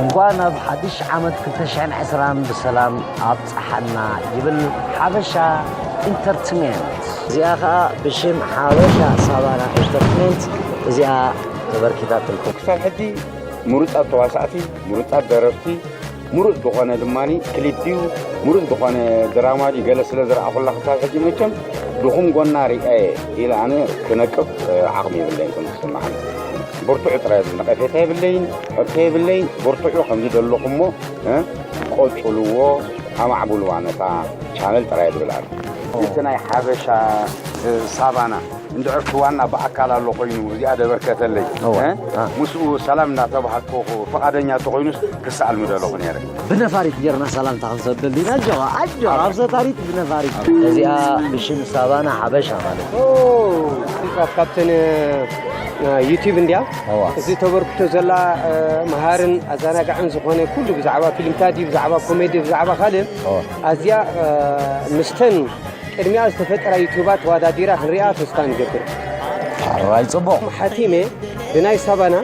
እንኳን ኣብ ሓድሽ ዓመት 220 ብሰላም ኣብፀሓና ይብል ሓበሻ ኢንተርትሜንት እዚኣ ከዓ ብሽም ሓበሻ ሳባና ኢንተርትሜንት እዚኣ ተበርኪታትልኩም ክሳብ ሕጂ ምሩፃት ተዋሳእቲ ምሩፃት ደረፍቲ ምሩፅ ዝኾነ ድማ ክሊፕ እዩ ምሩፅ ዝኾነ ድራማ እዩ ገለ ስለ ዝረኣኹላ ክሳብ ሕጂ መቸም ድኹም ጎና ሪኣየ ኢለ ኣነ ክነቅፍ ዓቕሚ የብለይን ከም ዝስምዓኒ ብርቱዕ ጥራይ እዚ ነቐፌታ የብለይን ሕቶ የብለይን ብርቱዑ ከምዚ ዘለኹሞ ቆፅልዎ ኣማዕብልዋ ነታ ቻነል ጥራይ ዝብል ኣሎ እቲ ናይ ሓበሻ ሳባና እንድሕር እቲ ዋና ብኣካል ኣሎ ኮይኑ እዚኣ ደበርከተለይ ምስኡ ሰላም እናተባሃልከኹ ፍቓደኛ እንተኾይኑስ ክሰኣል ምደለኹ ነይረ። ብነፋሪት ጌርና ሰላምታ ክንሰደሉ ኢና። ኣጆኻ ኣጆኻ ኣብ ሰታሪት ብነፋሪት እዚኣ ብሽም ሳባና ሓበሻ ማለት ካብተን ዩቲብ እንዲያ እዚ ተበርክቶ ዘላ መሃርን ኣዘናጋዕን ዝኾነ ኩሉ ብዛዕባ ፊልምታት ብዛዕባ ኮሜዲ ብዛዕባ ካልእ ኣዝያ ምስተን ቅድሚኣ ዝተፈጠራ ዩቱባት ተዋዳዲራ ክንሪኣ ተስፋ ንገብር። ኣራይ ጽቡቕ። ሓቲመ ብናይ ሳባና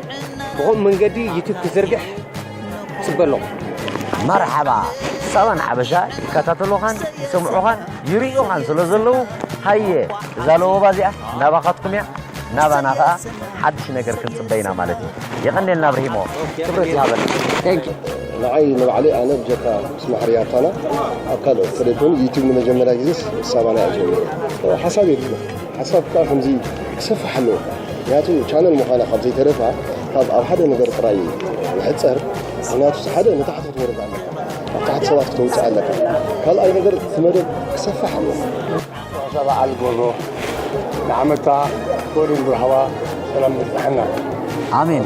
ብኸምኡ መንገዲ ዩቱብ ክዝርግሕ ጽበ ኣለኹ። መርሓባ ሳባን ሓበሻ ይከታተሉኻን ይሰምዑኻን ይርእዩኻን ስለ ዘለዉ ሃየ እዛ ለወባ እዚኣ ናባኻትኩም እያ ናባና ከዓ ሓድሽ ነገር ክንፅበ ኢና ማለት እዩ የቐኔልና ብርሂሞ ክብረት ይሃበልና ንዓይ ንባዕለይ ኣነ ብጀካ ማዕሪ ኣርታና ኣብ ካልኦት ተለይ ኮይኑ ዩቲብ ንመጀመርያ ግዜ ሳባና እዩ ጀሚሩ ሓሳብ የድልዮ ሓሳብ ከዓ ከምዚ ክሰፍሕ ኣለዎ ምክንያቱ ቻነል ምዃና ካብ ዘይተረፋ ካብ ኣብ ሓደ ነገር ጥራይ ይሕፀር ምክንያቱ ሓደ ንታሕቲ ክትወርድ ኣለካ ኣብ ታሕቲ ሰባት ክተውፅእ ኣለካ ካልኣይ ነገር እቲ መደብ ክሰፍሕ ኣለዎ በዓል ጎቦ ንዓመታ ወድን ብርሃዋ ሰላም ብፅሐና ኣሜን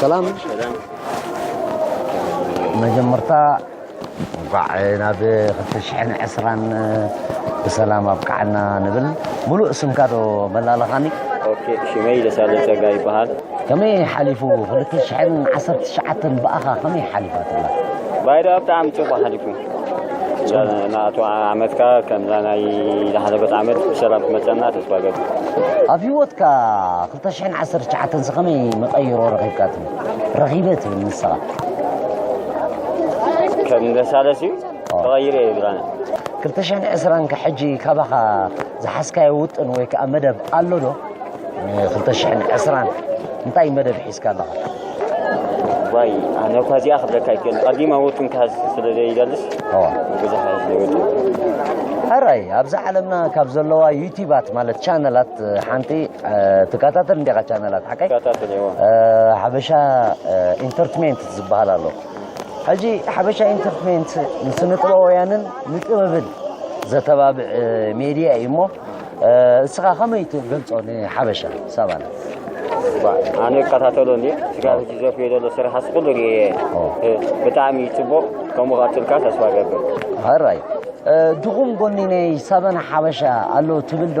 ሰላም መጀመርታ እንኳዕ ናብ 2020 ብሰላም ኣብቅዓና ንብል ሙሉእ ስምካ ዶ መላለኻኒ ኦኬ ሽመይ ደሳለ ጸጋ ይበሃል ከመይ ሓሊፉ 2019 ብኣኻ ከመይ ሓሊፋትላ ባይዳ ብጣዕሚ ጽቡቅ ሓሊፉ ናቱ ዓመትካ ከምዛ ናይ ዝሓለፈት ዓመት ብሰላም ክመፀና ተስፋ ገብ ኣብ ህይወትካ ክልተ ሽሕን ዓሰርተ ትሽዓተን ሲ ከመይ መቐይሮ ረኺብካ ትብል ረኺበ ትብል ንስኻ ከም ገሳለስ እዩ ተቐይረ እዩ ብራነ ክልተ ሽሕን ዕስራን ከ ሕጂ ካባኻ ዝሓዝካዮ ውጥን ወይ ከዓ መደብ ኣሎ ዶ ንክልተ ሽሕን ዕስራን እንታይ መደብ ሒዝካ ኣለኻ ዋይ ኣነ እኳ እዚኣ ክብለካ ይክእል ቀዲመ ውጥን ክሃዝ ስለ ዘይደልስ ብዙሕ ኣይወጥን ሕራይ ኣብዛ ዓለምና ካብ ዘለዋ ዩቲባት ማለት ቻነላት ሓንቲ ትከታተል እንዲኻ ቻነላት ሓቀይ ሓበሻ ኢንተርትሜንት ዝበሃል ኣሎ ሕጂ ሓበሻ ኢንተርትሜንት ንስነ ጥበባውያንን ንጥበብን ዘተባብዕ ሜድያ እዩ እሞ እስኻ ከመይ ትገልጾ ንሓበሻ ሰባና ኣነ ይከታተሎ እንዲ ስጋ ሕጂ ዘፍዮ ዘሎ ስራሓስ ኩሉ ርየ ብጣዕሚ ፅቡቕ ከምኡ ቀፅልካ ተስፋ ገብር ራይ ድኹም ጎኒ ናይ ሰበን ሓበሻ ኣሎ ትብል ዶ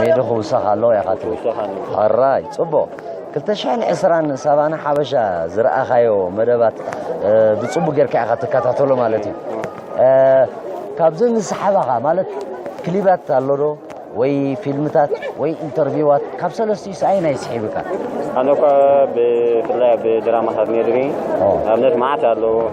ሜዶ ክውሰኽ ኣለዎ ኢኻ ትብል ሕራይ ጽቡቕ 2020 ሳባና ሓበሻ ዝረኣኻዮ መደባት ብጽቡቅ ጌርካ ኢኻ ትከታተሎ ማለት እዩ ካብዚ ንስሓባኻ ማለት ክሊባት ኣሎ ዶ ወይ ፊልምታት ወይ ኢንተርቪዋት ካብ ሰለስትኡ ሰኣይ ናይ ስሒብካ ኣነ እኳ ብፍላይ ኣብ ድራማታት ነድሪ ኣብነት መዓት ኣለዎ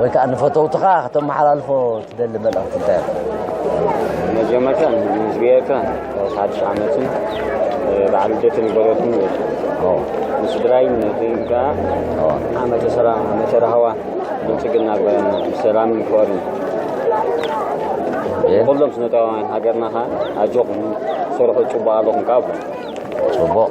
ወይ ከዓ ንፈተውትኻ ከተመሓላልፎ ትደሊ መልእኽቲ እንታይ መጀመርታ ምስ ብሄርካ ሓድሽ ዓመትን በዓል ልደትን ይበረኩም ንስድራይ ንህን ከዓ ዓመተ ሰላም ዓመተ ራህዋ ብልፅግና ሰላምን ፍቅርን ኩሎም ስነታውያን ሃገርና ከዓ ኣጆኹም ስርሑ ፅቡቅ ኣለኹም ከዓ ፅቡቅ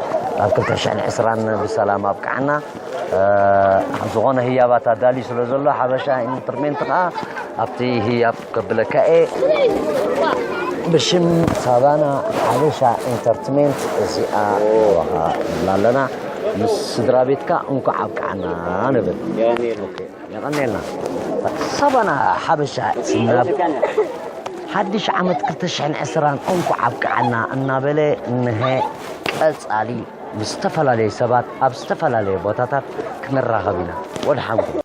ናብ ክልተ ሽሕን ዕስራን ብሰላም ኣብቅዓና ዝኾነ ህያባት ኣዳልዩ ስለ ዘሎ ሓበሻ ኢንተርሜንት ከዓ ኣብቲ ህያብ ከብለካ እየ ብሽም ሳባና ሓበሻ ኢንተርትሜንት እዚኣ ንዋሃ ንብላ ኣለና ምስ ስድራ ቤትካ እንኳዕ ኣብቅዓና ንብል የቐንየልና ሳባና ሓበሻ ናብ ሓድሽ ዓመት 220 እንኳዕ ኣብቅዓና እናበለ እንሀ ቀፃሊ ምስ ዝተፈላለዩ ሰባት ኣብ ዝተፈላለዩ ቦታታት ክንራኸብ ኢና ወድሓንኩም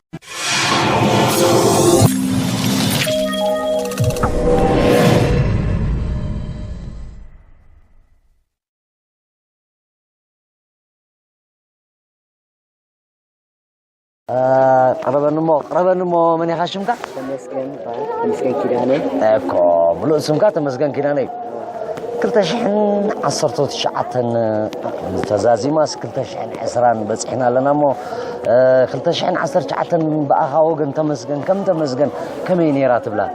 ቅረበኒ እሞ ቅረበኒ እሞ መን ኢኻ ሽምካ? ተመስገን ይበሃል። ተመስገን ኪዳነ እኮ ምሉእ ስምካ ተመስገን ኪዳነ እዩ። ክልተ ሽሕን ዓሰርተ ትሽዓተን ተዛዚማስ ክልተ ሽሕን ዕስራን በፂሕና ኣለና እሞ ክልተ ሽሕን ዓሰርተ ትሽዓተን ብኣኻ ወገን ተመስገን ከም ተመስገን ከመይ ነይራ ትብላ?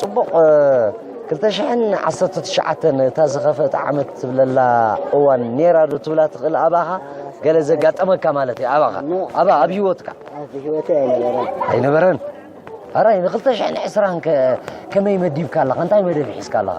ጽቡቕ ክልተ ሽሕን ዓሰርተ ትሽዓተን እታ ዝኸፍአት ዓመት ትብለላ እዋን ኔራ ዶ ትብላ ትኽእል ኣባኻ ገለ ዘጋጠመካ ማለት እዩ ኣባኻ ኣብ ኣብ ህይወትካ ኣብ ህይወተይ ኣይነበረን ኣይነበረን ኣራይ ንክልተ ሽሕን ዕስራን ከ ከመይ መዲብካ ኣለኻ እንታይ መደብ ሒዝካ ኣለኻ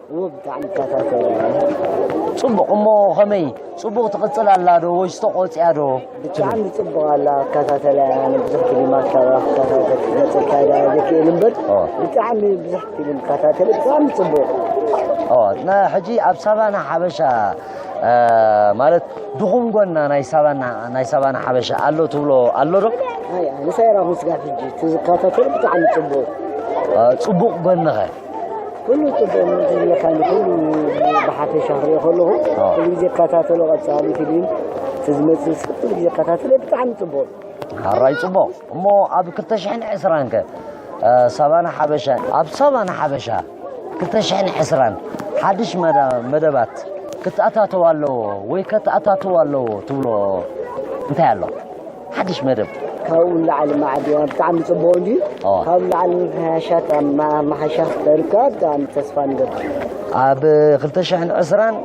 ፅቡቕ እሞ ከመይ ፅቡቕ ትቕፅል ኣላ ዶ ወይስ ተቆፅያ ዶ ብጣዕሚ ፅቡቕ ኣላ ኣከታተላ ኣነ ብዙሕ ፊልም ኣካባ ክከታተል ክመፅልካ ዳ ዘይክእል እምበር ብጣዕሚ ብዙሕ ፊልም ከታተለ ብጣዕሚ ፅቡቕ ሕጂ ኣብ ሳባና ሓበሻ ማለት ድኹም ጎና ናይ ሳባና ናይ ሳባና ሓበሻ ኣሎ ትብሎ ኣሎ ዶ ንሳይራ ምስጋፍ ሕጂ ትዝከታተል ብጣዕሚ ፅቡቕ ፅቡቕ ጎንኸ ኩሉ ጽቡቅ ነው ዝብለካ ንኩሉ ብሓፈሻ ክሪኦ ከለኹ ኩሉ ግዜ እከታተሎ ቀጻሊ ፊልም እቲ ዝመጽእ ኩሉ ግዜ እከታተሎ ብጣዕሚ ጽቡቅ ሓራይ ጽቡቅ እሞ ኣብ 220 ከ ሳባና ሓበሻ ኣብ ሳባና ሓበሻ 220 ሓድሽ መደባት ክተኣታተው ኣለዎ ወይ ከተኣታተው ኣለዎ ትብሎ እንታይ ኣሎ ሓድሽ መደብ ካብኡ ንላዕሊ ማዕድያ ብጣዕሚ ፅቡቅ እንጂ ካብኡ ንላዕሊ ምምሕያሻት ኣመሓይሻ ክተርካ ብጣዕሚ ተስፋ ንገብር ኣብ 220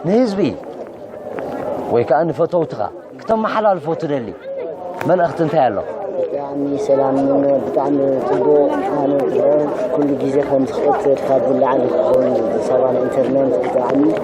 ንህዝቢ ወይ ከዓ ንፈተውትኻ ክተመሓላልፎ ትደሊ መልእኽቲ እንታይ ኣሎ ብጣዕሚ ሰላም ብጣዕሚ ፅቡቅ ኣነ ኩሉ ግዜ ከም ዝኽእል ተርካ ዝለዓለ ክኸውን ሰባ ኢንተርነት ብጣዕሚ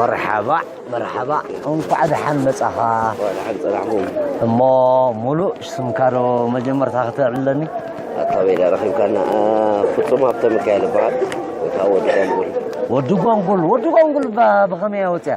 መርሓባእ መርሓባእ እንኳዕ ደሓን መጻኻ ደሓን ጸናሕኩም እሞ ሙሉእ ስምካዶ መጀመርታ ክተዕብለኒ ኣካበይዳ ረኺብካና ፍጹም ሃብተ ሚካኤል ይበሃል ወይ ከዓ ወዲ ጓንጉል ወዲ ጓንጉል ወዲ ጓንጉል ብኸመይ ወፅያ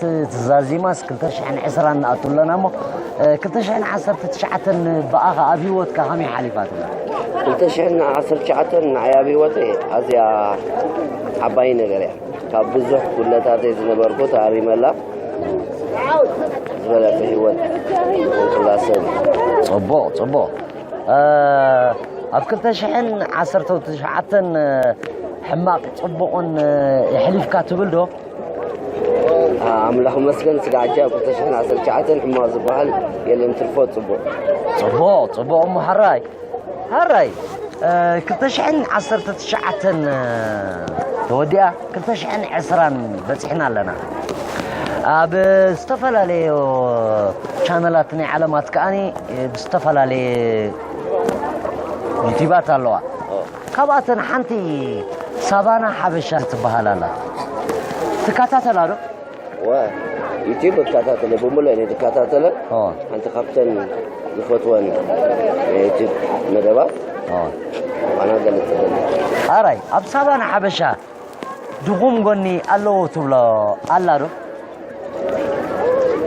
ትዛዚማስ ክልተ ሽሕን ዕስራን ንኣቱ ኣለና እሞ ክልተ ሽሕን ዓሰርተ ትሽዓተን ብኣኻ ኣብ ሂወትካ ከመይ ሓሊፋትላ ክልተ ሽሕን ዓሰርተ ትሽዓተን ንዓይ ኣብ ሂወተይ ኣዝያ ዓባይ ነገር እያ ካብ ብዙሕ ጉድለታተይ ዝነበርኩ ተኣሪመላ ዝበለፀ ሂወት ንክላ ሰብ ፅቡቕ ፅቡቕ ኣብ ክልተ ሽሕን ዓሰርተ ትሽዓተን ሕማቕ ፅቡቕን የሕሊፍካ ትብል ዶ ኣምላኽ መስገን ስጋዕጃ ኣብ 2019 ሕማቕ ዝበሃል የለን ትርፎ ፅቡቕ ፅቡቕ ፅቡቕ እሞ ሃራይ ሃራይ 219 ተወዲኣ 220 በፂሕና ኣለና ኣብ ዝተፈላለዩ ቻነላት ናይ ዓለማት ከዓኒ ብዝተፈላለየ ዩቲባት ኣለዋ ካብኣተን ሓንቲ ሳባና ሓበሻ ትበሃል ኣላ ትከታተላ ዶ ዩቲብ እከታተለ ብምሉእ እየ ዝከታተለ ሓንቲ ካብተን ዝፈትወን ዩቲብ መደባት ኣና ገልፅ ኣራይ ኣብ ሳባና ሓበሻ ድኹም ጎኒ ኣለዎ ትብሎ ኣላ ዶ?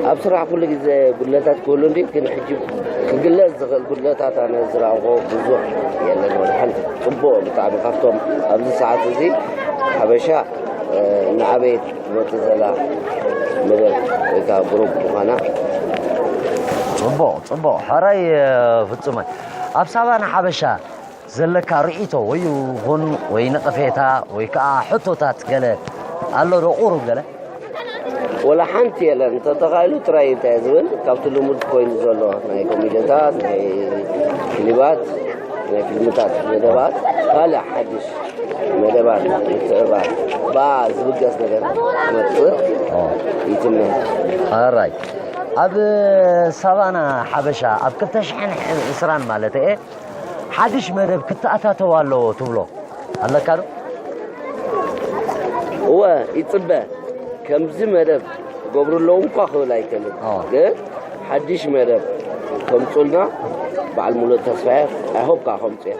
ኣብ ስራሕ ኩሉ ግዜ ጉድለታት ክህሉ እንዲ ግን ሕጂ ክግለጽ ዝኽእል ጉድለታት ኣነ ዝረኣኹ ብዙሕ የለን ወላ ሓንቲ ጽቡቕ ብጣዕሚ ካብቶም ኣብዚ ሰዓት እዚ ሓበሻ ንዓበየት ትመጽእ ዘላ መደብ ወይ ከዓ ግሩፕ ምዃና ጽቡቕ ጽቡቕ ሕራይ ፍጹመ ኣብ ሳባና ሓበሻ ዘለካ ርእይቶ ወይ ይኹን ወይ ነቐፌታ ወይ ከኣ ሕቶታት ገለ ኣሎ ዶ ቁሩብ ገለ? ወላ ሓንቲ የለን እንተተኻኢሉ ጥራይ እንታይ ዝብል ካብቲ ልሙድ ኮይኑ ዘሎ ናይ ኮሚደታት ናይ ክሊባት ናይ ፊልምታት መደባት ካልእ ሓድሽ መደባት ምትዕባር ብኣ ዝብገስ ነገር መፅእ ይትመ ኣራይ ኣብ ሳቫና ሓበሻ ኣብ 220 ማለት እየ ሓድሽ መደብ ክተኣታተው ኣለዎ ትብሎ ኣለካ ዶ? እወ ይፅበ ከምዚ መደብ ክገብሩ ኣለዎም እኳ ክብል ኣይከልን ግን ሓድሽ መደብ ከምፁልና በዓል ሙሉእ ተስፋየ ኣይሆፕ ከዓ ከምፁ እየ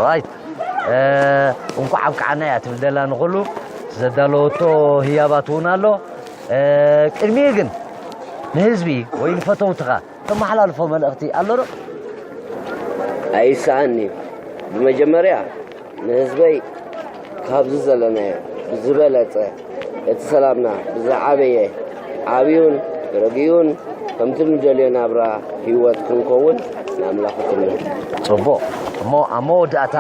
ራይት እንኳዕ ኣብቅዓና እያ ትብል ደላ ንኩሉ ዘዳለወቶ ህያባት እውን ኣሎ ቅድሚኡ ግን ንህዝቢ ወይ ንፈተውትኻ ተመሓላልፎ መልእኽቲ ኣሎ ዶ? ኣይሰኣንን'ዩ። ብመጀመርያ ንህዝበይ ካብዚ ዘለናዮ ብዝበለጸ እቲ ሰላምና ብዝዓበየ ዓብዩን ረጊኡን ከምቲ ንደልዮ ናብራ ህይወት ክንከውን ንኣምላኽ እትምነ። ጽቡቕ እሞ ኣብ መወዳእታ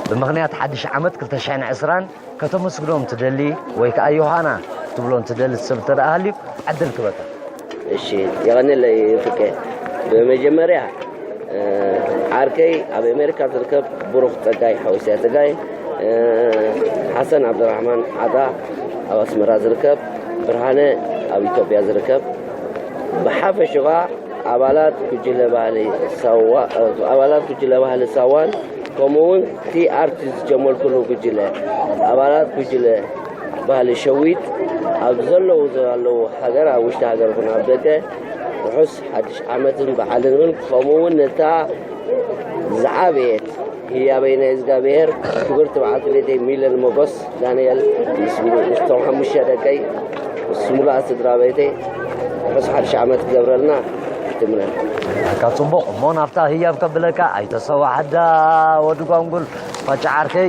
ብምኽንያት ሓድሽ ዓመት 2020 ከተመስግኖም ትደሊ ወይ ከኣ ዮሃና ክትብሎ ትደሊ ሰብ እንተ ሃልዩ ዕድል ክበካ። እሺ የቐንለይ ፍቄ ብመጀመርያ ዓርከይ ኣብ ኣሜሪካ ዝርከብ ብሩኽ ፀጋይ ሓወስያ ፀጋይ ሓሰን ዓብድራሕማን ዓጣ ኣብ ኣስመራ ዝርከብ ብርሃነ ኣብ ኢትዮጵያ ዝርከብ ብሓፈሽኻ ኣባላት ጉጅለ ባህሊ ሳዋ ኣባላት ጉጅለ ባህሊ ሳዋን ከምኡ እውን እቲ ኣርቲ ዝጀመርኩሉ ጉጅለ ኣባላት ጉጅለ ባህሊ ሸዊት ኣብ ዘለዉ ዘለዉ ሃገር ኣብ ውሽጢ ሃገር ኹን ኣብ ደገ ርሑስ ሓድሽ ዓመትን በዓልን እውን ከምኡ እውን ነታ ዝዓበየት ህያ በይነ እዝጋብሄር ክብርቲ በዓልቲ ቤተይ ሚለን ሞጎስ ዳንኤል ምስ ምስቶም ሓሙሽተ ደቀይ ምስ ሙሉኣ ስድራ ቤተይ ርሑስ ሓድሽ ዓመት ክገብረልና ትምነን ኣካ ጽቡቕ እሞ ናብታ ህያብ ከብለካ ኣይተሰዋሕ ኣዳ ወዲ ጓንጉል ፋጫ ዓርከይ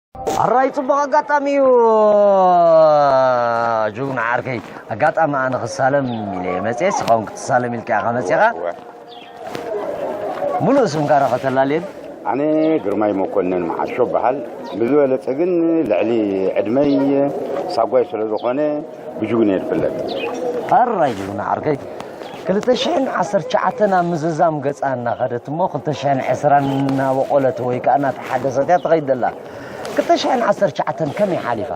ኣራይ ፅቡቕ ኣጋጣሚ እዩ ጅግና ዓርከይ ኣጋጣሚ ኣነ ክሳለም ኢለ መፅኤ ስኻውን ክትሳለም ኢልካ ኢኻ መፅኻ ሙሉእ ስምካ ዶ ከተላልየን ኣነ ግርማይ መኮንን መዓሾ በሃል ብዝበለፀ ግን ልዕሊ ዕድመይ ሳጓይ ስለ ዝኾነ ብጁግኔር ፍለጥ ኣራይ ጅግና ዓርከይ ክልተ ሽሕን ዓሰርተ ትሽዓተን ኣብ ምዝዛም ገጻ እናኸደት እሞ ክልተ ሽሕን ዕስራን እናበቖለት ወይ ከዓ እናተሓደሰት እያ ትኸይድ ዘላ ክልተ ሽሕን ዓሰርተ ትሽዓተን ከመይ ሓሊፋ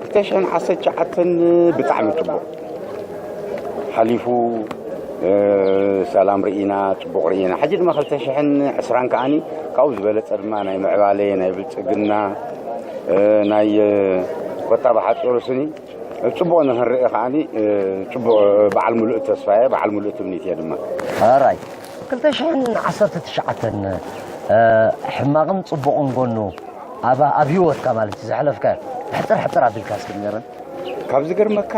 ክልተ ሽሕን ዓሰርተ ትሽዓተን ብጣዕሚ ፅቡቕ ሓሊፉ ሰላም ርኢና ፅቡቕ ርኢና ሕጂ ድማ ክልተ ሽሕን ዕስራን ከዓኒ ካብኡ ዝበለፀ ድማ ናይ ምዕባለ ናይ ብልፅግና ናይ ቆጣባ ሓፂሩ ስኒ ፅቡቅ ንክንርኢ ከዓ ፅቡቅ በዓል ሙሉእ ተስፋ እየ በዓል ሙሉእ ትምኒት እየ ድማ ራይ ክልተ ሽሕን ዓሰርተ ትሽዓተን ሕማቅን ፅቡቅን ጎኑ ኣብ ሂወትካ ማለት እዩ ዘሕለፍካዮ ሕፅር ሕፅር ኣቢልካ እስኪ ንገረን ካብ ዝገርመካ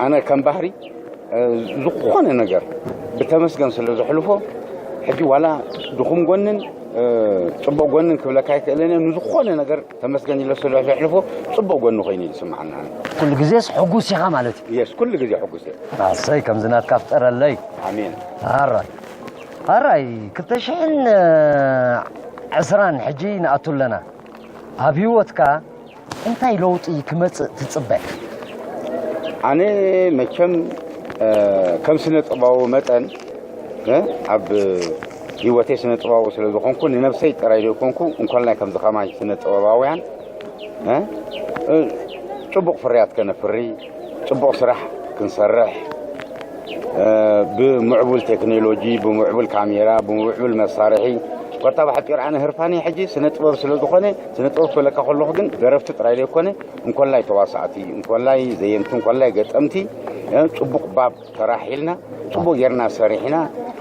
ኣነ ከም ባህሪ ዝኾነ ነገር ብተመስገን ስለ ዘሕልፎ ሕጂ ዋላ ድኹም ጎንን ፅቡቅ ጎኒ ክብለካ ኣይክእልን ንዝኾነ ነገር ተመስገን ኢለ ስለ ዘሕልፎ ፅቡቅ ጎኒ ኮይኑ ዝስማዓኒ ኩሉ ግዜስ ሕጉስ ኢኻ ማለት እዩ የስ ኩሉ ግዜ ሕጉስ እየ ኣሰይ ከምዚ ናትካ ፍጠረለይ ኣሜን ኣራይ ኣራይ ክልተ ሽሕን ዕስራን ሕጂ ንኣቱ ኣለና ኣብ ሂወትካ እንታይ ለውጢ ክመጽእ ትጽበ? ኣነ መቸም ከም ስነ ጥባዊ መጠን ኣብ ህይወተይ ስነ ጥባዊ ስለ ዝኾንኩ ንነብሰይ ጥራይ ዘይኮንኩ እንኮላይ ከምዚ ከማይ ስነ ጥበባውያን ጭቡቕ ፍርያት ከነፍሪ ፅቡቕ ስራሕ ክንሰርሕ ብምዕቡል ቴክኖሎጂ ብምዕቡል ካሜራ ብምዕቡል መሳርሒ ኮታ ብሓፂር ኣነ ህርፋኒ ሕጂ ስነ ጥበብ ስለ ዝኾነ ስነ ጥበብ ክብለካ ከለኹ ግን ደረፍቲ ጥራይ ዘይኮነ እንኮላይ ተዋሳእቲ እንኮላይ ዘየንቲ እንኮላይ ገጠምቲ ፅቡቕ ባብ ተራሒልና ፅቡቕ ጌርና ሰሪሕና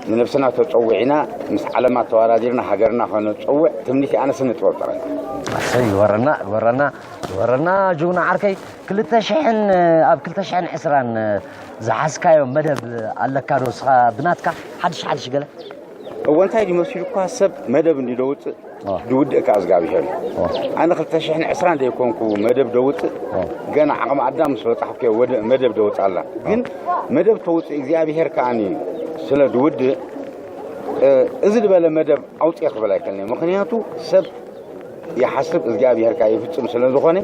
ንነብስና ተፀዊዕና ምስ ዓለማ ተወዳዲርና ሃገርና ከነፀውዕ ትምኒት ኣነ ስነ ጥበብ ጥራይ ኣሰይ ይወረና ይወረና ይወረና ጅግና ዓርከይ ክልተ ሽሕን ኣብ ክልተ ሽሕን ዕስራን ዝሓዝካዮ መደብ ኣለካ ዶ እስኻ ብናትካ ሓድሽ ሓድሽ ገለ እወ እንታይ ድዩ መሲሉኳ ሰብ መደብ እንዲ ደውፅእ ዝውድእ ከዓ እግዚኣብሄር እዩ ኣነ ክልተ ሽሕን ዕስራን ዘይኮንኩ መደብ ደውፅእ ገና ዓቕሚ ኣዳም ምስ በፃሕኩ መደብ ደውፅእ ኣላ ግን መደብ ተውፅእ እግዚኣብሄር ከዓኒ ስለ ዝውድእ እዚ ዝበለ መደብ ኣውፅኤ ክብል ኣይከልኒ ምክንያቱ ሰብ ይሓስብ እግዚኣብሔር ካዓ ይፍፅም ስለዝኾነ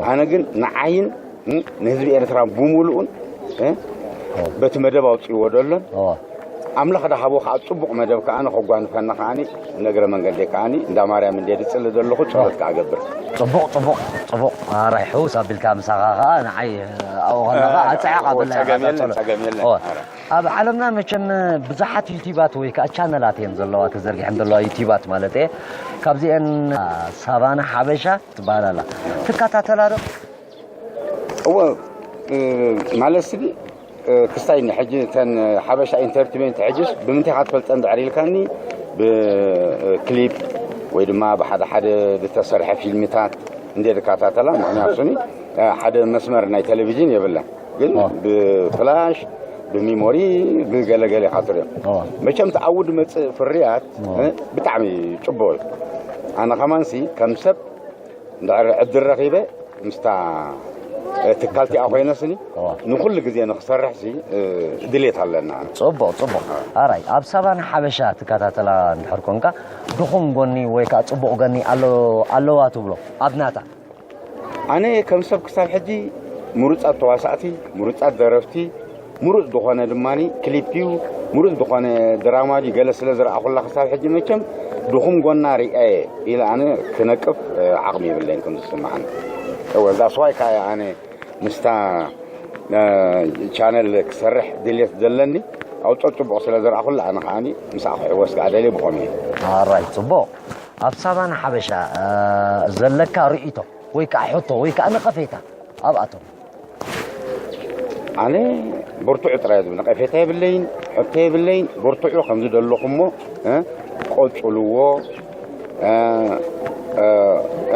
ኣነ ግን ንዓይን ንህዝቢ ኤርትራ ብምሉኡን በቲ መደብ ኣውፅእዎ ደሎን ኣምላኽ ዳሃቦ ከዓ ፅቡቕ መደብ ከዓ ንኸጓንፈና ከዓ ነግረ መንገዲ ከዓ እንዳ ማርያም እንደ ድፅሊ ዘለኹ ፀሎት ከዓ ገብር ፅቡቕ ፅቡቕ ፅቡቕ ኣራይ ሕውስ ኣቢልካ ምሳኻ ከዓ ንዓይ ኣብኡ ከለኻ ኣፀዕቕ ኣበላ ፀገም የለን ፀገም የለን ኣብ ዓለምና መቸም ብዙሓት ዩቲባት ወይ ከዓ ቻነላት እየን ዘለዋ ተዘርጊሐን ዘለዋ ዩቲባት ማለት እየ ካብዚአን ሳቫና ሓበሻ ትበሃል ኣላ ትከታተላ ዶ እወ ማለት ስቢ ክስታይ ንሕጂ እተን ሓበሻ ኢንተርትመንት ሕጅስ ብምንታይ ካ ትፈልጠን ድሕሪ ኢልካኒ ብክሊፕ ወይ ድማ ብሓደ ሓደ ዝተሰርሐ ፊልምታት እንደ ድካታተላ ምክንያቱ ስኒ ሓደ መስመር ናይ ቴሌቭዥን የብለን ግን ብፍላሽ ብሚሞሪ ብገለገለ ኢኻ ትሪኦ መቸም እቲ ዓውዲ መፅእ ፍርያት ብጣዕሚ ፅቡቅ እዩ ኣነ ከማንሲ ከም ሰብ እንድሕር ዕድል ረኺበ ምስታ ትካል እቲኣ ኮይነስኒ ንኩሉ ግዜ ንክሰርሕ ሲ ድሌት ኣለና ፅቡቅ ፅቡቅ ኣራይ ኣብ ሳቫና ሓበሻ ትከታተላ እንድሕር ኮንካ ድኹም ጎኒ ወይ ከዓ ፅቡቅ ጎኒ ኣለዋ ትብሎ ኣብናታ ኣነ ከም ሰብ ክሳብ ሕጂ ምሩፃት ተዋሳእቲ፣ ምሩፃት ደረፍቲ፣ ምሩፅ ዝኾነ ድማ ክሊፕ እዩ፣ ምሩፅ ዝኾነ ድራማ እዩ ገለ ስለ ዝረኣኹላ ክሳብ ሕጂ መቸም ድኹም ጎና ሪኣየ ኢለ ኣነ ክነቅፍ ዓቕሚ የብለይን ከም ዝስምዓኒ እወ ዛስዋይ ካየ ኣነ ምስታ ቻነል ክሰርሕ ድሌት ዘለኒ ኣውጦ ጽቡቕ ስለ ዝረኣኹላ ኣነ ከዓኒ ምስኣ ክሕወስ ከዓ ደልየ ብኸምኡ እዩ ራይ ጽቡቕ ኣብ ሳቫና ሓበሻ ዘለካ ርእይቶ ወይ ከዓ ሕቶ ወይ ከዓ ነቐፌታ ኣብኣቶም ኣነ ብርቱዑ ጥራይ ዝብል ነቐፌታ የብለይን ሕቶ የብለይን ብርቱዑ ከም ዝደለኹሞ ቆፅልዎ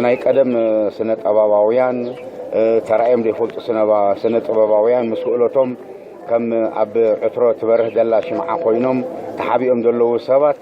ናይ ቀደም ስነ ጠባባውያን ተራእዮም ዘይፈልጡ ስነ ጥበባውያን ምስ ክእለቶም ከም ኣብ ዕትሮ ትበርህ ዘላ ሽምዓ ኮይኖም ተሓቢኦም ዘለዉ ሰባት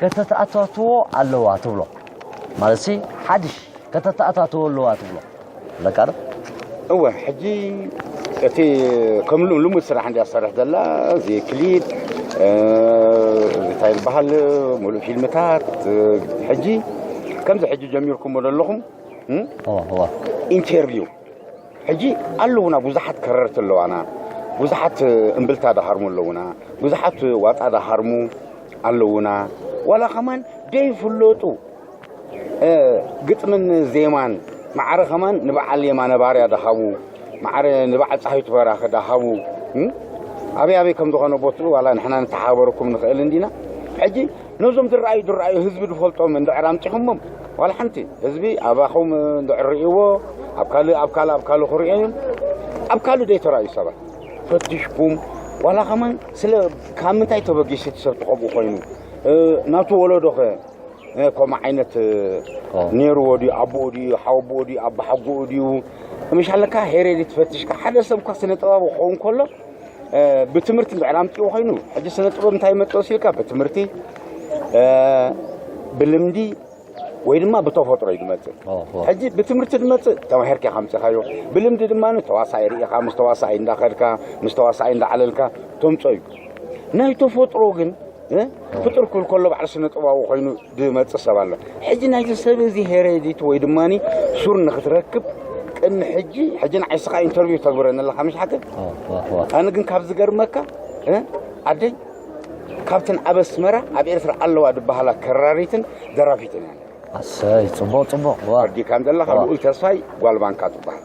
ከተተኣታትዎ ኣለዋ ትብሎ ማለትሲ ሓድሽ ከተተኣታትዎ ኣለዋ ትብሎ ለቃርብ እወ ሕጂ እቲ ከምሉ ልሙድ ስራሕ እንዲያ ዝሰርሕ ዘላ እዚ ክሊፕ እንታይ ዝበሃል ሙሉእ ፊልምታት ሕጂ ከምዚ ሕጂ ጀሚርኩሞ ዘለኹም ኢንተርቪው ሕጂ ኣለዉና ብዙሓት ከረርቲ ኣለዋና ብዙሓት እምብልታ ዳሃርሙ ኣለዉና ብዙሓት ዋጣ ዳሃርሙ ኣለዉና ዋላ ከማን ደይፍለጡ ግጥምን ዜማን ማዕረ ከማን ንበዓል የማነ ባርያ ዳሃቡ ማዕረ ንበዓል ፀሃይቱ በራኸ ዳሃቡ ኣበይ ኣበይ ከም ዝኾነ ቦትኡ ዋላ ንሕና ንተሓበረኩም ንኽእል እንዲና ሕጂ ነዞም ዝረኣዩ ዝረኣዩ ህዝቢ ዝፈልጦም እንድዕር ኣምፂኹሞም ዋላ ሓንቲ ህዝቢ ኣባኹም እንድዕር ርእይዎ ኣብ ካልእ ኣብ ካልእ ኣብ ካልእ ክርእዮ እዮም ኣብ ካልእ ዘይተረኣዩ ሰባት ፈትሽኩም ዋላ ከማን ስለ ካብ ምንታይ ተበጊሱ እቲ ሰብ ትኸምኡ ኮይኑ ናቱ ወለዶ ኸ ከምኡ ዓይነት ነይርዎ ድዩ ኣቦኡ ድዩ ሓወቦኡ ድዩ ኣቦሓጎኡ ድዩ ምሻለካ ሄሬዲ ትፈትሽካ ሓደ ሰብ እኳ ስነ ጥበብ ክኸውን ከሎ ብትምህርቲ እንድሕር ኣምፂኡ ኮይኑ ሕጂ ስነ ጥበብ እንታይ መጠወሲ ኢልካ ብትምህርቲ ብልምዲ ወይ ድማ ብተፈጥሮ እዩ ዝመፅእ ሕጂ ብትምህርቲ ዝመፅእ ተማሂርካ ኢኻ ምፅኻዮ ብልምዲ ድማ ተዋሳኢ ርኢኻ ምስ ተዋሳኢ እንዳኸድካ ምስ ተዋሳኢ እንዳዓለልካ ተምፆ እዩ ናይ ተፈጥሮ ግን ፍጡር ክብል ከሎ ባዕሉ ስነ ጥበባዊ ኮይኑ ዝመጽእ ሰብ ኣሎ ሕጂ ናይዚ ሰብ እዚ ሄሬዲት ወይ ድማ ሱር ንክትረክብ ቅድሚ ሕጂ ሕጂ ንዓይስኻ ኢንተርቪው ተግብረኒ ኣለካ ምሽ ሓቂ ኣነ ግን ካብ ዝገርመካ ዓደይ ካብተን ኣብ ኣስመራ ኣብ ኤርትራ ኣለዋ ዝበሃላ ከራሪትን ደራፊትን እያ ኣሰይ ፅቡቅ ፅቡቅ ኣዲካ ዘለካ ልኡል ተስፋይ ጓልባንካ ትበሃል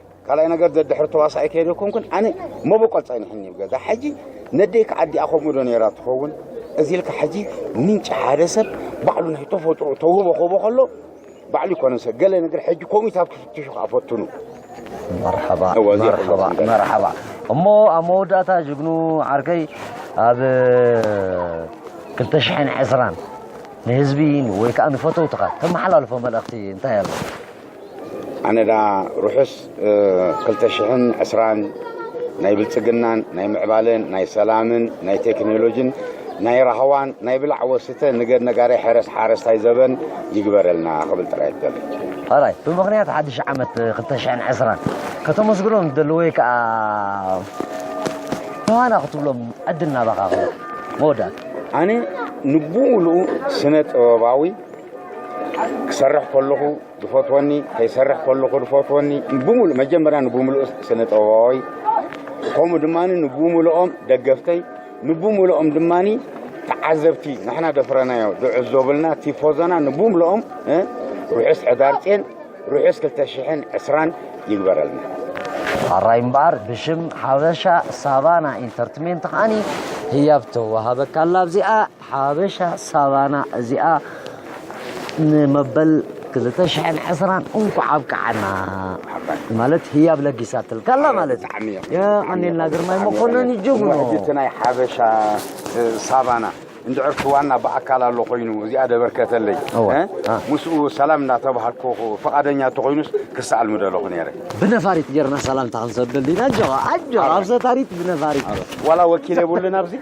ካልኣይ ነገር ደድሕሪ ተዋሳኢ ከይደ ኮንኩን ኣነ መበቆል ጸኒሕኒ እዩ ገዛ ሕጂ ነደይ ከዓ ኣዲኣ ከምኡ ዶ ነይራ ትኸውን እዚ ኢልካ ሕጂ ምንጪ ሓደ ሰብ ባዕሉ ናይ ተፈጥሮ ተውህቦ ክህቦ ከሎ ባዕሉ ይኮነ ሰብ ገለ ነገር ሕጂ ኮሚታት ክፍትሹ ከዓ ፈትኑ መርሓባ መርሓባ መርሓባ እሞ ኣብ መወዳእታ ጅግኑ ዓርከይ ኣብ 220 ንህዝቢ ወይ ከዓ ንፈተውትኻ ተመሓላልፎ መልእኽቲ እንታይ ኣሎ ኣነዳ ርሑስ ክልተ ሽሕን ዕስራን ናይ ብልጽግናን ናይ ምዕባለን ናይ ሰላምን ናይ ቴክኖሎጅን ናይ ራህዋን ናይ ብላዕ ወስተ ንገድ ነጋዳይ ሕረስ ሓረስታይ ዘበን ይግበረልና ክብል ጥራይ ትደሊ ራይ ብምክንያት ሓድሽ ዓመት 220 ከተመስግኖም ትደሊ ወይ ከዓ ብሃና ክትብሎም ዕድል ናባኻ ክብል መወዳእታ ኣነ ንብኡልኡ ስነ ጥበባዊ ክሰርሕ ከለኹ ዝፈትወኒ ከይሰርሕ ከለኹ ዝፈትወኒ ብምሉእ መጀመርያ ንብምሉእ ስነ ጥበባዊ ከምኡ ድማ ንብምልኦም ደገፍተይ ንብምልኦም ድማ ተዓዘብቲ ንሕና ደፍረናዮ ዝዕዘቡልና ቲፎዞና ንብምልኦም ርሑስ ዕዳርጼን ርሑስ 220 ይግበረልና ኣራይ እምበኣር ብሽም ሓበሻ ሳቫና ኢንተርትሜንት ከዓኒ ህያብ ተዋሃበካ ኣላ ኣብዚኣ ሓበሻ ሳቫና እዚኣ ንመበል ክልተ ሽሕን ዕስራን እንኳዕ ኣብቅዓና ማለት ህያብ ለጊሳትልካ ኣላ ማለት የቀኒልና ግርማይ መኮነን ጅግኖ እቲ ናይ ሓበሻ ሳቫና እንድዕር ክዋና ብኣካል ኣሎ ኮይኑ እዚኣ ደበርከተለይ ምስኡ ሰላም እናተባሃልኩ ፈቓደኛ እንተኮይኑስ ክሰኣል ምደለኹ ነይረ ብነፋሪት ጌርና ሰላምታ ክንሰደሉ ኢና ኣጆኻ ኣጆኻ ኣብ ሰታሪት ብነፋሪት ዋላ ወኪል የብሉን ኣብዚ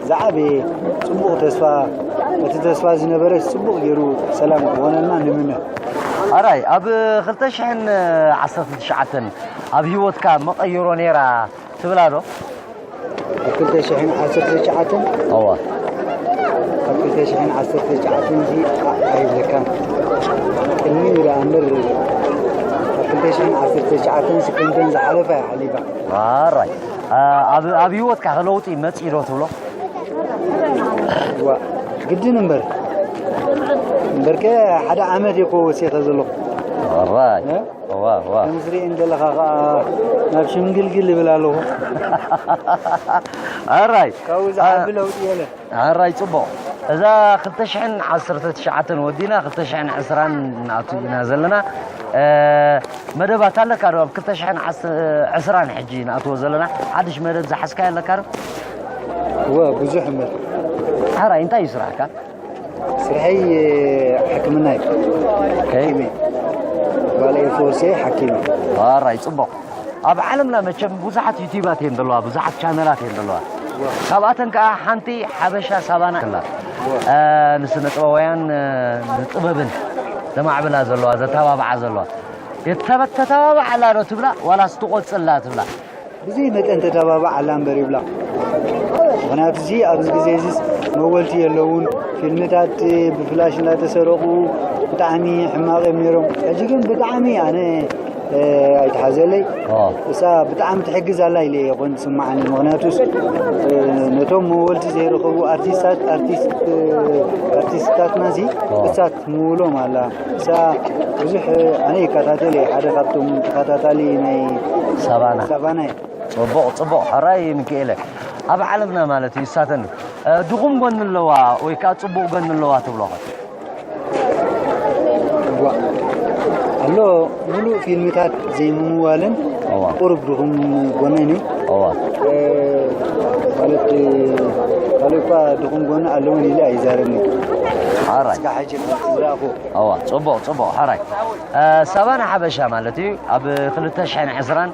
ዝዓበየ ጽቡቕ ተስፋ እቲ ተስፋ ዝነበረ ጽቡቕ ገይሩ ሰላም ክኾነና ንምነ ኣራይ ኣብ 219 ኣብ ህይወትካ መቐይሮ ነይራ ትብላ ዶ ኣብ 219 እዋ ኣብ 219 እዚ ኣይብለካን ቅድሚ ኢላ እምበር ኣብ 219 ስክንተን ዝሓለፋ ይሓሊፋ ኣራይ ኣብ ህይወትካ ከለውጢ መፅኢ ዶ ትብሎ ግድን እምበር እምበርከ ሓደ ዓመት እኮ ወሲኸ ዘለኹ ራይ ከምዝርኢ እንደለኻ ከዓ ናብ ሽምግልግል ይብል ኣለኹ ራይ ካብኡ ዝዓቢ ለውጢ የለን ሕራይ ጽቡቕ እዛ ክልተ ሽሕን ዓሰርተ ትሽዓተን ወዲና ክልተ ሽሕን ዕስራን ንኣቱ ኢና ዘለና መደባት ኣለካ ዶ ኣብ ክልተ ሽሕን ዕስራን ሕጂ ንኣትዎ ዘለና ሓድሽ መደብ ዝሓዝካዮ ኣለካ ዶ እወ ብዙሕ እምበር ሕራይ እንታይ እዩ ስራሕካ ስርሐይ ሕክምና እዩ ጓል ኤርፎርስ እየ ሓኪም እዩ ሕራይ ጽቡቕ ኣብ ዓለምና መቸም ብዙሓት ዩቲባት እየን ዘለዋ ብዙሓት ቻነላት እየን ዘለዋ ካብኣተን ከዓ ሓንቲ ሓበሻ ሳባና ኣላ ንስነ ጥበባውያን ንጥበብን ዘማዕብላ ዘለዋ ዘተባብዓ ዘለዋ የተተባብዓ ኣላ ዶ ትብላ ዋላ ስትቆፅላ ትብላ ብዚ መጠን ተተባብዓ ኣላ እምበር ይብላ ምክንያቱ እዚ ኣብዚ ግዜ እዚ መወልቲ የለውን ፊልምታት ብፍላሽ እናተሰረቑ ብጣዕሚ ሕማቕ እዮም ነይሮም ሕጂ ግን ብጣዕሚ ኣነ ኣይተሓዘለይ እሳ ብጣዕሚ ትሕግዝ ኣላ ኢለ እየ ኮን ዝስማዓኒ ምክንያቱስ ነቶም መወልቲ ዘይረኸቡ ኣርቲስታት ኣርቲስትታትና እዚ እሳ ትምውሎም ኣላ እሳ ብዙሕ ኣነ ይከታተል እየ ሓደ ካብቶም ተኸታታሊ ናይ ሳባና ሳባና እየ ፅቡቕ ፅቡቕ ሕራይ ምክኤለ ኣብ ዓለምና ማለት እዩ እሳተን ድኹም ጎኒ ኣለዋ ወይ ከዓ ፅቡቕ ጎኒ ኣለዋ ትብሎ ኣሎ ሙሉእ ፊልምታት ዘይምምዋልን ቁርብ ድኹም ጎነን እዩ ማለት ካልእ እኳ ድኹም ጎነ ኣለውን ኢለ ኣይዛረብኒ ሓራይ እዋ ፅቡቕ ፅቡቕ ሓራይ ሳባና ሓበሻ ማለት እዩ ኣብ 220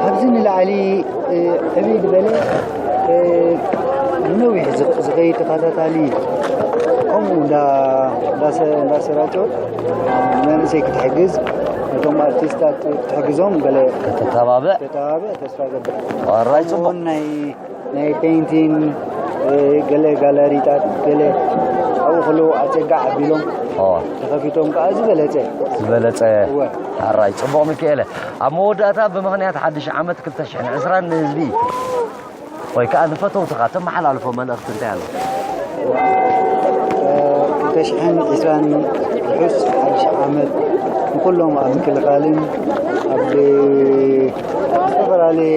ካብዚ ንላዕሊ ዕብይ ዝበለ ንነዊሕ ዝኸይድ ተኸታታሊ ከምኡ እንዳሰራጨወት መንእሰይ ክትሕግዝ ነቶም ኣርቲስታት ክትሕግዞም ገለ ከተተባብዕ ተስፋ ገብር ዋራይ ፅቡቕ ናይ ፔንቲን ገለ ጋለሪታት ገለ ኣብኡ ከለዉ ኣፀጋ ዓቢሎም ተኸፊቶም ከዓ ዝበለፀ ዝበለፀ ኣራይ ፅቡቕ ሚካኤለ ኣብ መወዳእታ ብምክንያት ሓድሽ ዓመት 220 ንህዝቢ ወይ ከዓ ንፈተውትኻ ተመሓላልፎ መልእኽቲ እንታይ ኣሎ ተሽሕን ዒስራን ርሑስ ሓድሽ ዓመት ንኩሎም ኣብ ምክልኻልን ኣብ ዝተፈላለየ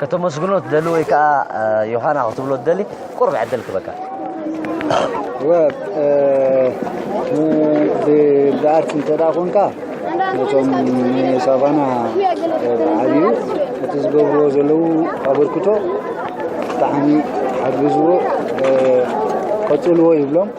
ከተመስግኖ ትደሊ ወይ ከኣ ዮሃና ክትብሎ ትደሊ ቁርብ ዕድል ክበካ ብኣርት እንተ ኮንካ ነቶም ሳቫና ዓብዩ እቲ ዝገብርዎ ዘለዉ ኣበርክቶ ብጣዕሚ ሓግዝዎ ቀፅልዎ ይብሎም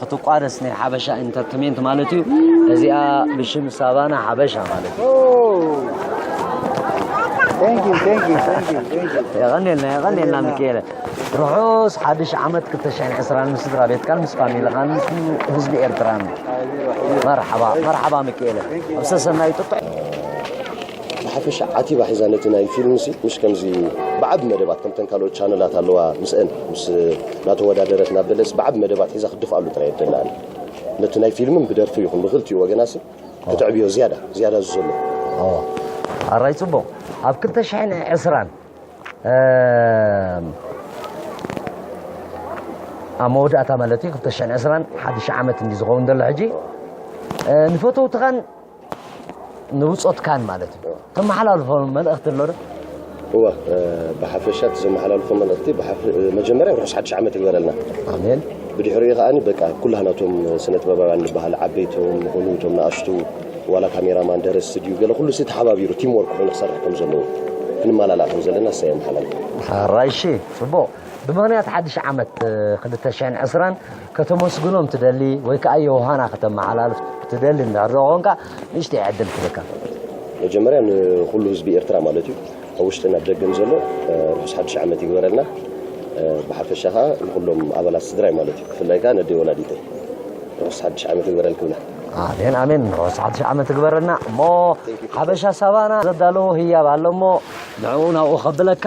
ክትቋደስ ናይ ሓበሻ ኢንተርቴንመንት ማለት እዩ። እዚኣ ብሽም ሳቫና ሓበሻ ማለት እዩ። የቐኔልና የቐኔልና ሚካኤለ ርሑስ ሓድሽ ዓመት 220 ምስ ስድራ ቤትካን ምስ ፋሚልኻን ምስ ህዝቢ ኤርትራን መርሓባ መርሓባ ሚካኤለ ኣብ ሰሰናዩ ጥጡሕ ብሓፈሻ ዓቲባ ሒዛ ነቲ ናይ ፊልም ሲ ምሽ ከምዚ ብዓቢ መደባት ከምተን ካልኦት ቻነላት ኣለዋ ምስአን ምስ ናተወዳደረት ናብ በለስ ብዓቢ መደባት ሒዛ ክድፍኣሉ ጥራይ የደላኒ ነቲ ናይ ፊልምን ብደርፊ ይኹን ብክልቲኡ ወገና ሲ ክትዕብዮ ዝያዳ ዝያዳ ዝዘሎ ኣራይ ጽቡቕ ኣብ ክልተ ሽሕን ዕስራን ኣብ መወዳእታ ማለት እዩ ክልተ ሽሕን ዕስራን ሓድሽ ዓመት እንዲ ዝኸውን ዘሎ ሕጂ ንፈተውትኻን ንብጾትካን ማለት እዩ ተመሓላልፎ መልእኽቲ ኣሎ ዶ? እወ ብሓፈሻ እቲ ዘመሓላልፎ መልእኽቲ መጀመርያ ርሑስ ሓድሽ ዓመት ይግበረልና ኣሜን ብድሕሪኡ ከዓኒ በቃ ኩላህና እቶም ስነ ጥበባውያን ንበሃል ዓበይቶም ንኹኑ እቶም ንኣሽቱ ዋላ ካሜራማን ደረስቲ ድዩ ገለ ኩሉ ሲ ተሓባቢሩ ቲም ወርክ ኮይኑ ክሰርሕ ከም ዘለዎ ክንመላላእ ከም ዘለና እሰ የመሓላልፎ ራይሺ ጽቡቕ ብምኽንያት ሓድሽ ዓመት 220 ከተመስግኖም ትደሊ ወይ ከኣ ዮሃና ከተመሓላልፍ ትደሊ እንድሕር ኮንካ ንእሽተይ ዕድል ክብካ። መጀመርያ ንኹሉ ህዝቢ ኤርትራ ማለት እዩ ኣብ ውሽጥን ኣብ ደገን ዘሎ ርሑስ ሓድሽ ዓመት ይግበረልና ብሓፈሻ ከዓ ንኩሎም ኣባላት ስድራይ ማለት እዩ ብፍላይ ከዓ ነደይ ወላዲተይ ርሑስ ሓድሽ ዓመት ይግበረልክ ብላ ኣሜን ኣሜን ርሑስ ሓድሽ ዓመት ይግበረልና እሞ ሓበሻ ሳባና ዘዳለዎ ህያብ ኣሎ እሞ ንዕኡ ናብኡ ከብለካ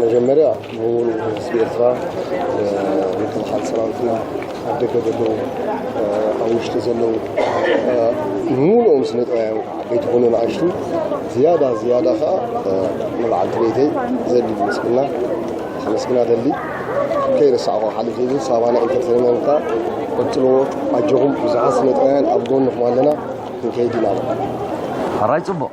መጀመርያ ምውን ህዝቢ ኤርትራ ምክልኻል ሰራዊትና ኣብ ደገ ዘለዉ ኣብ ውሽጢ ዘለዉ ምሉኦም ስነ ጥበባውያን ከዓ ዓበይቲ ኮኑ ንኣሽቱ ዝያዳ ዝያዳ ከዓ ንበዓልቲ ቤተይ ዘድሊ ምስግና ከመስግና ደሊ ከይረሳዕኹ ሓሊፍ እዚ ሳባና ኢንተርቴንመንት ከዓ ቀጥልዎ ኣጆኹም ብዙሓት ስነ ጥበባውያን ኣብ ጎንኹም ኣለና ንከይዲ ናበ ራይ ጽቡቅ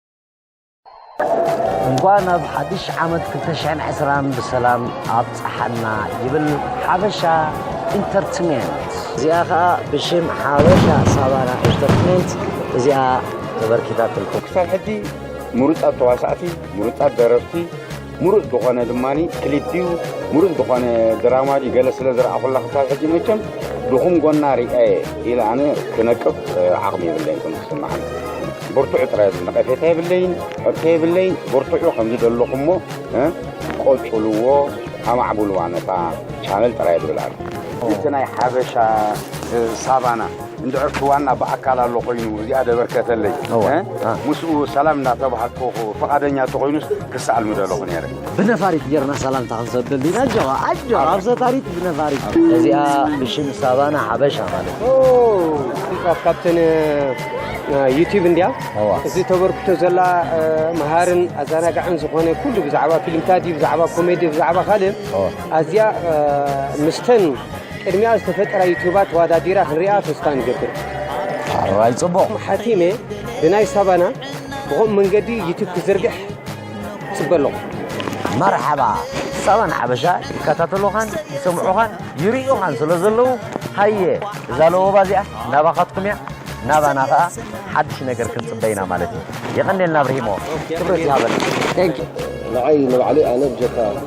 እንኳን ኣብ ሓድሽ ዓመት 220 ብሰላም ኣብፀሓና ይብል ሓበሻ ኢንተርትሜንት እዚኣ ከዓ ብሽም ሓበሻ ሳባና ኢንተርትሜንት እዚኣ ተበርኪታትልኩም ክሳብ ሕጂ ምሩፃት ተዋሳእቲ ምሩፃት ደረፍቲ ምሩፅ ዝኾነ ድማ ክሊፕ እዩ ምሩፅ ዝኾነ ድራማ እዩ ገለ ስለ ዝረኣኹላ ክሳብ ሕጂ መቸም ድኹም ጎና ሪኣየ ኢለ ኣነ ክነቅፍ ዓቕሚ የብለይን ከም ዝስምዓኒ ብርቱዕ ጥራይ እዚ ነቐፌታ የብለይን ሕቶ የብለይን ብርቱዑ ከምዚ ዘለኹሞ ቆፅልዎ ኣማዕብልዋ ነታ ቻነል ጥራይ ዝብል ኣሎ እቲ ናይ ሓበሻ ሳባና እንድሕር እቲ ዋና ብኣካል ኣሎ ኮይኑ እዚኣ ደበርከተለይ ምስኡ ሰላም እናተባሃልኩ ፍቓደኛ እንተኾይኑስ ክሰኣል ምደለኹ ነይረ። ብነፋሪት ጌርና ሰላምታ ክንሰደሉ ኢና። ኣጆኻ ኣጆኻ ኣብ ሰታሪት ብነፋሪት እዚኣ ብሽም ሳባና ሓበሻ ማለት እዩ። ካብተን ዩቲብ እንዲያ እዚ ተበርክቶ ዘላ መሃርን ኣዘናጋዕን ዝኾነ ኩሉ ብዛዕባ ፊልምታት እዩ ብዛዕባ ኮሜዲ ብዛዕባ ካልእ ኣዝያ ምስተን ቅድሚኣ ዝተፈጠራ ዩቱባት ተዋዳዲራ ክንሪኣ ተስፋ ንገብር። ኣራይ ጽቡቕ ም ሓቲመ ብናይ ሳባና ብኸምኡ መንገዲ ዩቱብ ክዝርግሕ ጽበ ኣለኹ። መርሓባ ሳባና ሓበሻ ይከታተሉኻን ይሰምዑኻን ይርእዩኻን ስለ ዘለዉ ሃየ እዛ ለወባ እዚኣ ናባኻትኩም እያ ናባና ኸኣ ሓድሽ ነገር ክንጽበ ኢና ማለት እዩ። የቐኔልና ኣብርሂሞ ክብረት ይሃበልና። ንዓይ ንባዕለይ ኣነ ብጀካ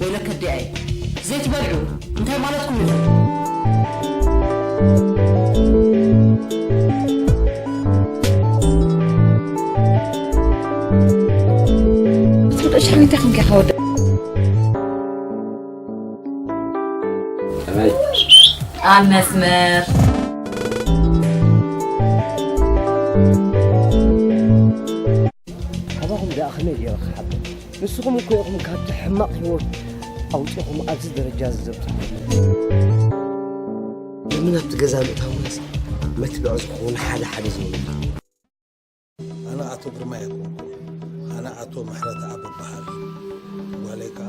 ወይለ ከዲኣይ ዘይትበልዑ እንታይ ማለትኩም እዩ ሽሚታ ክንከ ከወደ ኣብ መስመር ካባኹም ደኣ ከመይ ገይረ ክሓብር ንስኹም እኮ ኢኹም ካብቲ ሕማቕ ህይወት ኣውፂኹም ኣብዚ ደረጃ ዝዘብፅኹ ለምን ኣብቲ ገዛ ምእታው መስ መትብዖ ዝኸውን ሓደ ሓደ ዝብሉ ኣነ ኣቶ ግርማ እየ ኣነ ኣቶ ምሕረት ኣብ በሃል ጓለይ ከዓ